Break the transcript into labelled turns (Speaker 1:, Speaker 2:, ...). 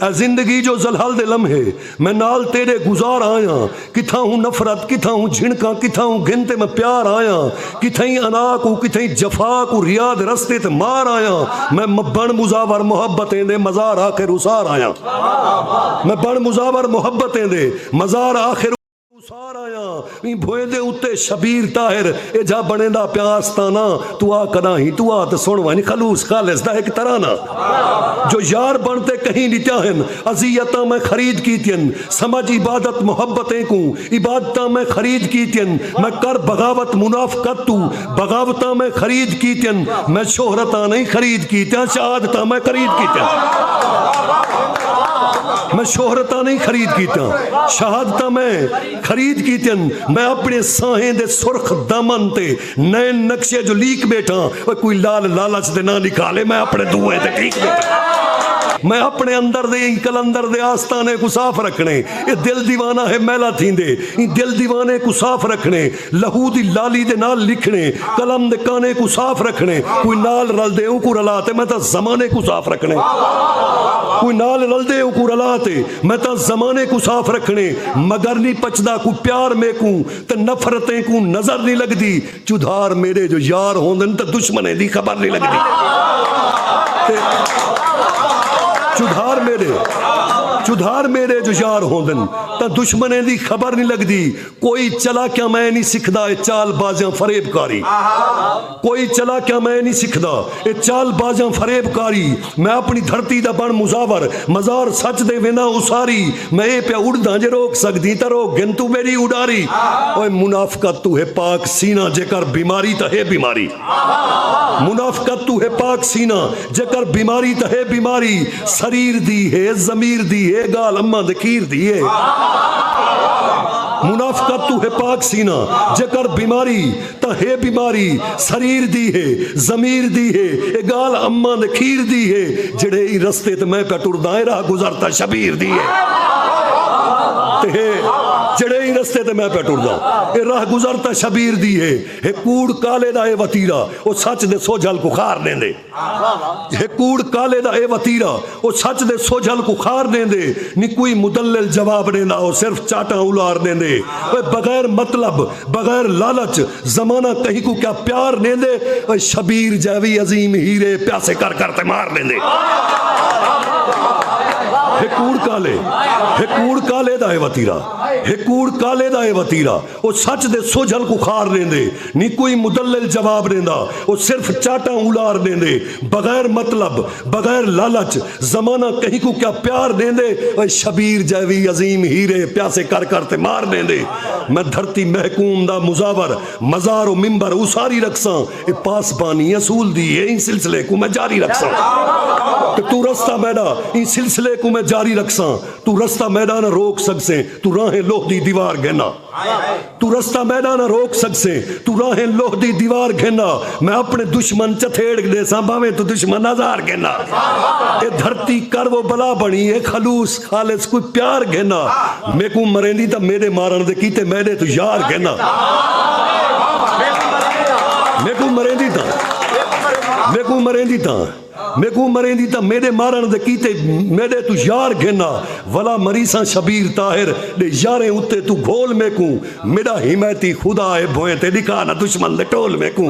Speaker 1: اے زندگی جو ذلحل دے لمحے میں نال تیڈے گزار آیاں کتھاں ہوں نفرت کتھاں ہوں جھنکاں کتھاں ہوں گھن تے میں پیار آیاں کتھئیں انا کوں کتھئیں جفا کوں ریا دے رستے تے مار آیاں میں بن مزاور محبتیں دے مزار آخر اسار آیاں میں بن مزاور محبتیں دے مزار آخر اسار آیاں ایں بھوئیں دے اتے شبیر طاہر اے جھا بنیندا پیا آستانہ تو آ کدا ہیں تو آ تے سن ونج خلوص خالص دا ہک ترانہ جو یار بن تے کہیں ڈٹیا ہن اذیتاں میں خرید کیتین سمجھ عبادت محبت اینکوں عبادتاں میں خرید کیتین میں کر بغاوت منافقت تو بغاوتاں میں خرید کیتن میں شہرتاں نہیں خرید کیتیاں شہادتاں میں خرید کیتیاں میں شہرتاں نہیں خرید کیتیاں شہادتاں میں خرید کیتن میں اپنے ساہیں دے سرخ دمن تے نئے نقشے جو لیک بیٹھا وہ کوئی لال لالچ دے نہ لکھا لے میں اپنے دوئے دے ٹھیک بیٹھا میں اپنے اندر دے ان کلندر دے آستانے کو صاف رکھنے یہ دل دیوانہ ہے میلہ تھیندے یہ دل دیوانے کو صاف رکھنے لہو دی لالی دے نال لکھݨے، قلم دے کانے کوں صاف رکھݨے، کوئی نال رلدے اونکوں رلا تے میں تاں زمانے کوں صاف رکھݨے۔ کوئی نال رلدے اونکوں رلا تے میں تاں زمانے کوں صاف رکھݨے، مگر نی پچدا کوئی پیار میکوں تے نفرتیں کوں نظر نی لگدی، چدھار میݙے جو یار ہوندن تاں دشمنیں دی خبر نی لگدی تے چدھار میݙے چدھار میݙے جو یار ہوندن تاں دشمنیں دی خبر نی لگدی۔ کوئی چلاکیاں میں نی سکھدا اے چال بازیاں فریب کاری کوئی چلاکیاں میں نی سکھدا اے چال بازیاں فریب کاری میں اپنی دھرتی دا بن مزاور مزار سچ دے وینداں اساری میں اے پیا اڑداں جے روک سکدیں تاں روک گھن توں میڈی اڈاری اوئے منافقت توں ہے پاک سینہ جے کر بیماری تاں ہے بیماری منافقت توں ہے پاک سینہ۔ جیکر بیماری تاں ہے بیماری سریر دی ہے ضمیر دی ہے گال اماں دے کھیر دی ہے منافقت تو ہے پاک سینہ جیکر بیماری تاں ہے بیماری سریر دی ہے ضمیر دی ہے اے گال اماں دے کھیر دی ہے جڑے ای رستے تے میں پہ ٹرداں راہ گزرتا شبیر دی ہے تے ہے جڑے ای رستے تے میں پہ ٹرداں اے راہ گزرتا شبیر دی ہے اے کوڑ کالے دا اے وتیرا او سچ دے سوجھل کوں خار ݙیندے۔ ہے کوڑ کالے دا اے وتیرا۔ او سچ دے سوجھل کوں خار ݙیندے۔ نی کوئی مدلل جواب ݙیندا او صرف چاٹاں الار ݙیندے۔ اوئے بغیر مطلب بغیر لالچ زمانہ کہیں کوں کیا پیار ݙیندے۔ اوئے شبیر جیوی عظیم ہیرے پیاسے کر کر تے مار ݙیندے۔ ہے کوڑ کالے ہے کوڑ کالے دا اے وتیرا۔ ہے کوڑ کالے دا اے وتیرا۔ او سچ دے سوجھل کوں خار ݙیندے نی کوئی مدلل جواب ݙیندا او صرف چاٹاں اولار ݙیندے بغیر مطلب بغیر لالچ زمانہ کہیں کوں کیا پیار ݙیندے اے شبیر جیوی عظیم ہیرے پیاسے کر کر تے مار ݙیندے میں دھرتی محکوم دا مزاور مزار و ممبر اوساری رکھساں اے پاسبانی اصول دی اے ایں سلسلے کوں میں جاری رکھساں تے توں رستہ میݙا ایں سلسلے کوں میں جاری رکھساں توں رستہ میݙا نہ روک سڳسیں توں راہیں لوہ دی دیوار گھن آ توں رستہ میڈا نہ روک سکسیں توں راہیں لوہ دی دیوار گھن آ میں اپنے دشمن چتھیڑ گھدیساں بھاویں توں دشمن آزار گھن آ اے دھرتی کر و بلا بنی اے خلوص خالص کوئی پیار گھن آ میکوں مریندی تاں میڈے مارن دے کیتے میڈے توں یار گھن آ میکوں مریندی تاں میکوں مریندی تاں میکوں مریندی تاں میڈے مارݨ دے کیتے میڈے توں یار گھن آ ولا مریساں شبیر طاہر ڈے یاریں اتے توں گھول میکوں میڈا حمایتی خدا اے بھوئیں تے ڈکھا نہ دشمن دے ٹول میکوں